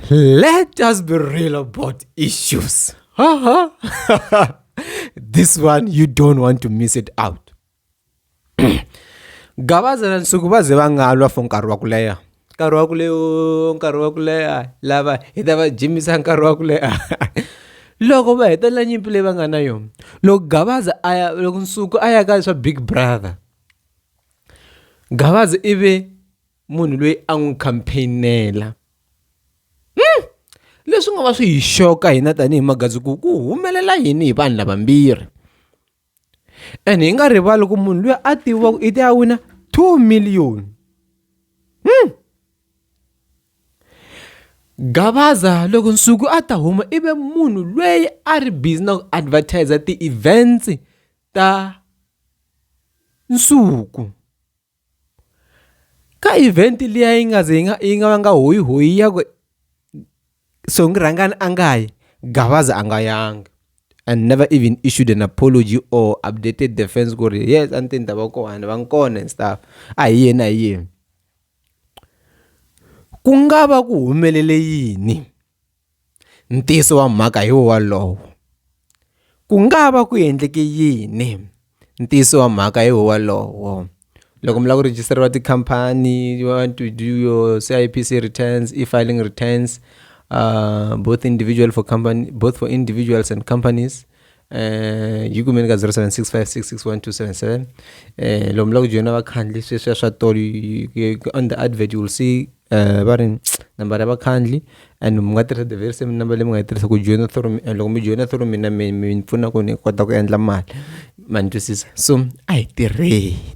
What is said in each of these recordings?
Let us be real about issues. this one, you don't want to miss it out. gavaza na nsuku va ze va nga lwa for nkarhi wa ku leha nkarhi wa ku leha nkarhi wa ku leha lava hi ta va jimisa nkarhi wa ku leha loko va hetelela nyimpi leyi va nga na yona loko gavaza a ya loko nsuku a ya ka swa big brother gavaza i ve munhu loyi a n'wi campaignela hmm. leswi nga va swi hi xoka hina tanihi magazi ku ku humelela yini hi vanhu lavambirhi and hi nga rivali ku munhu loyi a tiviwaku i ti a wina two million hmm. gavaza loko nsuku a ta huma i ve munhu loyi a ri busy na ku advertiser ti-events ta nsuku Ka event liya yi nga ze yi nga yi nga vanga hoyi hoyi ya ku Songi Rhangani a nga yi Gavaza a nga yanga and never even issued an apology or updated the fans ku ri yes a ni te ni ta va kona ni va ni kona and stuff a hi yena hi yena ku nga va ku humelele yini. Ntiyiso wa mhaka hi wolowo. Ku nga va ku endleke yini? Ntiyiso wa mhaka hi wolowo. Loko mi lava ku rejistariwa tikhampani you want to do your C_I_P_C returns, e-filing returns both individual for company both for individuals and companies. eh yi kumeni ka 0765661277 eh lomu la ku joyina vakhandli sweswiya swa tolo on the advert you will see eh va ri nambara ya vakhandli and mi nga tirhisa the very same number leyi mi nga yi tirhisa ku joyina through mina loko mi joyina through mina mi mi pfuna ku ni kota ku endla mali ma ni twisisa so a hi tirheni.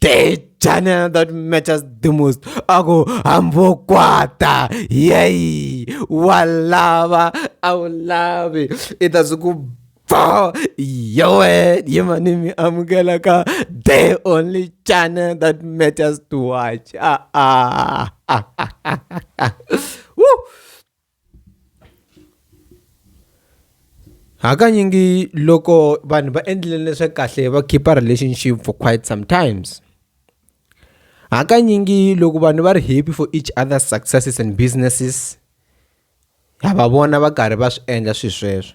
dejana that matches the most a ku hambokwata yeyi wa lava a wu lavi i ta swi ku bo yowe yimani mi amukela ka the only channel that matters to watch ah, ah, ah, ah, ah, ah. ah. Woo! Hakanyingi loko vanhu va endlile leswa kahle va khipa relationship for quite sometimes hakanyingi loko vanhu va ri happy for each other successes and businesses ha va vona va karhi va swi endla swilo sweswo.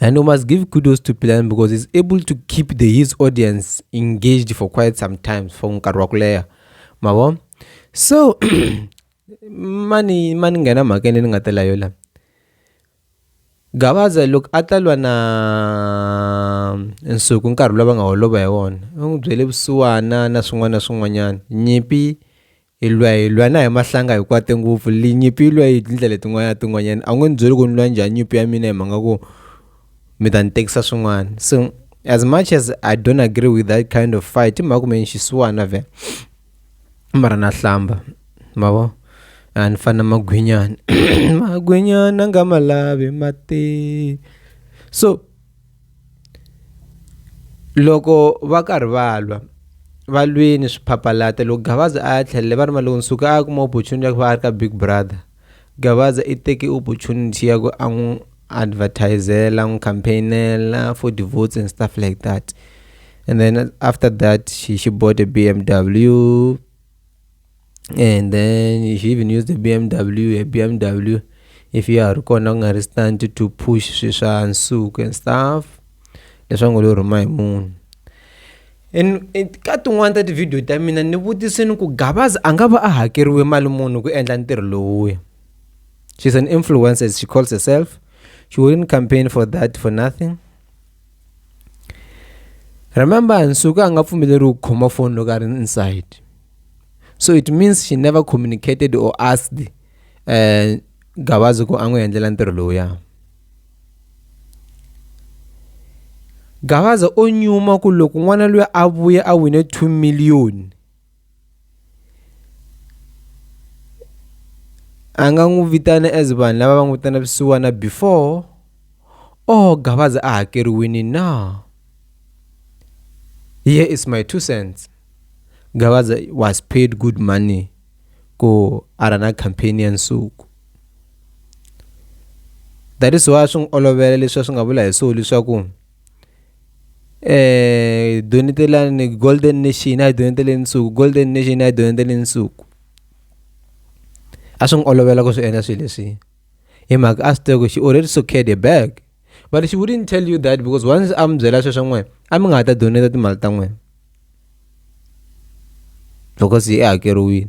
And we must give kudos to Plan because he's able to keep the, his audience engaged for quite some time for nkarhi wa ku leha ma vo so mani mani nghena mhakeni ni nga ta layo la gavaza loko a ta lwa na nsuku nkarhi lowu va nga holova hi wona u n'wi byele vusiwana na swin'wana na swin'wanyana nyimpi hi lwa hi lwa na hi mahlanga hi kwate ngopfu linyimpi yi lwa yi tindlela letin'wana tin'wanyana a wu nge ni byeli ku ni lwa njhani nyimpi ya mina hi mhaka ku mi ta ni tekisa swin'wana so as much as i don't agree with that kind of fight i mhaka ku me ni xisiwana vhele mara na hlamba mavo a ni fana magwinyana magwinyana nga ma lavi mati so loko va karhi va lwa valwini swiphaphalata loko gavaza a ya tlhelele va ri maloko ni suka a ya kuma opportunity ya ku va a ri ka big brother gavaza i teke opportunity ya ku a n'wi advertisela n'wi campaignela for devotes and stuff like that and then after that she, she bought a b m w and then if you even use the bmw a bmw if ya ha ri kona ku nga ri stunt to push swi swa nsuku and stuff leswi ngo lo rhuma hi munhu and ka tin'wani ta tivhidiyo ta mina ni vutisini ku gabaza a nga va a hakeriwe mali munhu ku endla ntirho lowuya she's an influencer she calls herself she wouldn't campaign for that for nothing Remember, Nsuka anga pfumeleri ku khoma phone loko a ri inside. So it means she never communicated or asked uh, Gabazi ku a n'wi endlela ntirho lowuya. Gabaza o nyuma ku loko n'wana luya a vuya a wine 2 million a nga n'wi vitana as vanhu lava va n'wi vitana vusiwana before or Gavaza a hakeriwini na here is my two cents Gavaza was paid good money ku a ra na campaign ya nsuku that is why swi n'wi olovela leswi a swi nga vula hi swona leswaku. ee donitoriyani golden nation na hi donetele nsuku golden nation na hi donetele nsuku a swi n'wi olovela ku swi endla swilo leswi hi mhaka a swi tiva ku she already secured a bag but she wouldn't tell you that because once a mi byela sweswo n'wina a mi nga ha ta doneta timali ta n'wina because yi hakeriwile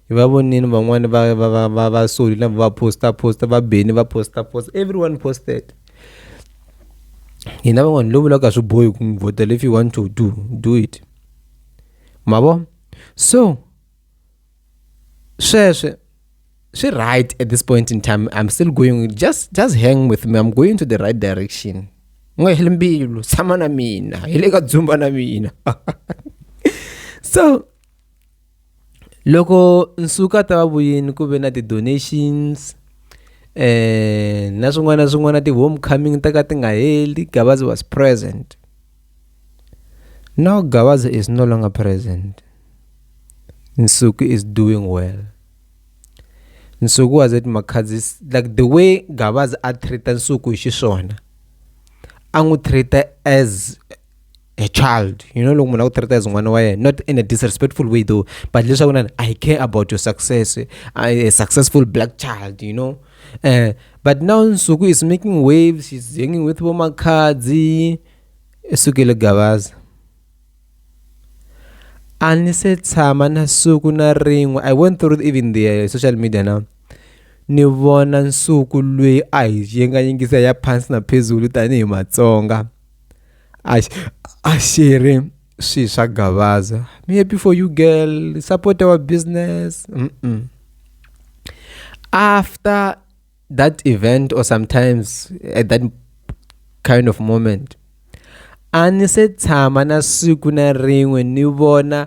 hi va vonini van'wani va va va va va soli na va posta posta va beni va posta posta everyone posted hina van'wani lo vulaka swi bohi ku n'wi vhotela if you want to do do it ma vo so sweswe swi right at this point in time i'm still going just just hang with me i'm going to the right direction n'we hi mbilu tshama na mina hi le ka dzumba na mina so loko nsuka ta va vuyini ku ve na ti-donations na swin'wana na swin'wana ti-home coming ta ka ti nga heli Gavaza was present now Gavaza is no longer present Nsuku is doing well Nsuku was at Makhadzi like the way Gavaza a treat-a Nsuku hi xiswona a n'wi treat-a as a child you know loko munhu a ku treat as n'wana wa yena not in a disrespectful way though but leswaku na i care about your success I, a successful black child you know uh, but now nsuku is making waves she's hanging with vomakhadzi esukele gavaza a ni se tshama na suku na rin'we i went through even the uh, social media now ni vona nsuku lweyi a hi yengayengisa ya phansi na phezulu tanihi matsonga I, I see him. Swi swa gavaza. Me happy for you girl. Support our business. Mm -mm. After that event or sometimes at that kind of moment a ni se tshama na siku na rin'we ni vona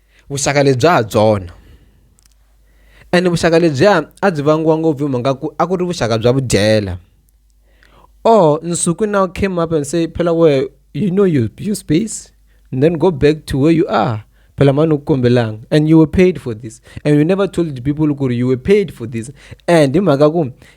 vuxaka lebya ha byona ene vuxaka lebyiya a byi vangiwa ngopfu hi mhaka ku a ku ri vuxaka bya vudyela or nsuku now came up and say phela where you know your, your space and then go back to where you are phela mani ukukombelanga and you were paid for this and you never told the people ku ri you were paid for this and hi mhaka ku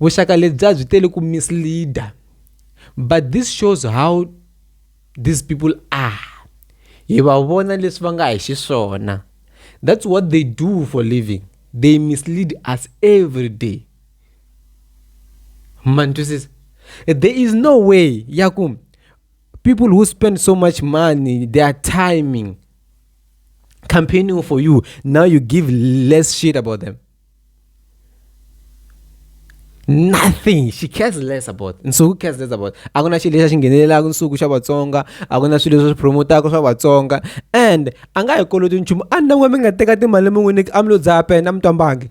Vuxaka lebyi a byi tele ku misleader but this shows how these people are hi va vona leswi va nga hi xiswona that's what they do for living they mislead us everyday ma ni twisisa there is no way ya ku people who spend so much money their timing campaigning for you now you give less shit about them. nothing she cares less about nsuku cares less about a ku na xilo lexi a xi nghenelelaka nsuku xa vatsonga a ku na swilo leswi swi promotaka swa vatsonga and a nga hi koloti nchumu a ni n'we mi nga teka timali mi n'wi nyika a mi lo dzaya pena mi twambangi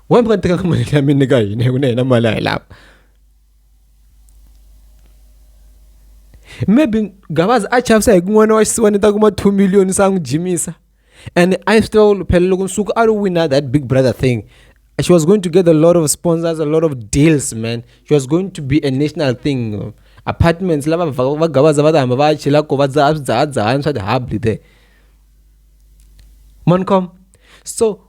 wa mi nga teka mali ya mi nyika hina hi ku na hina mali a hi lava maybe gabazi a chavisa hi ku n'wana wa xisiwana ta kuma two million sa n'wi jimisa and i still luphelele loko nsuku a wina that big brother thing she was going to get a lot of sponsors a lot of deals man she was going to be a national thing apartments lava va gavaza va ta hamba va chela ko va dzaha swi dzahadzahani swa ti-hubly there mancom so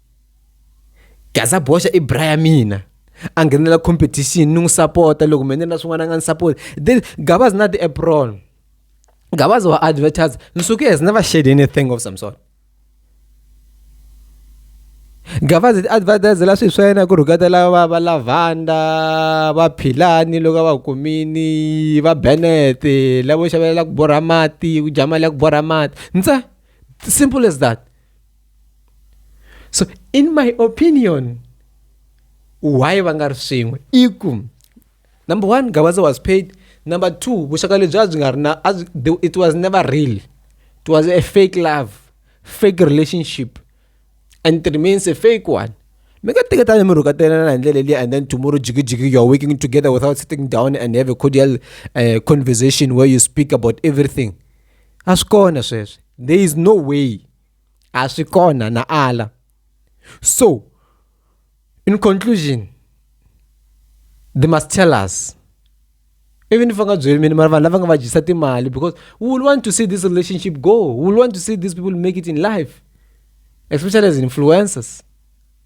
gaza boxa i bra ya mina a nghenela competition ni n'wi sapota loko mina na swin'wana a nga ni sapoti then gabazi na ti-apron gabazi wa advertise nsuke has never shared anything of some sort gavazi ti-advertise la swilo swa yena ku rhukatela va va lavanda va philani loko a va kumini va benet lavo xavelela ku borha mati ku dya mali ya ku borha mati ndza simple as that so in my opinion why va nga ri swin'we i ku number one gawaza was paid number two vuxaka lebyi a byi nga ri na it was never real it was a fake love fake relationship and it remains a fake one mi nga teketani mi rhukatanana hi ndlela leyi and then tomorrow jigijigi you're working together without sitting down and have a cordial uh, conversation where you speak about everything a swi kona sweswo there is no way a swi kona na ala so in conclusion they must tell us even if va nga byeli mina mara vanhu lava nga va dyisa timali because we will want to see this relationship go we will want to see these people make it in life especially as influencers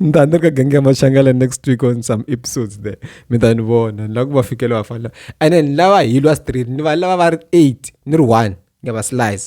ni ta ni ri ka gangi ya maxangala next week on some episodes there mi ta ni vona ni lava ku va fikela va fana and then lava hilwa street ni va lava va ri eight ni ri one ni ya va slice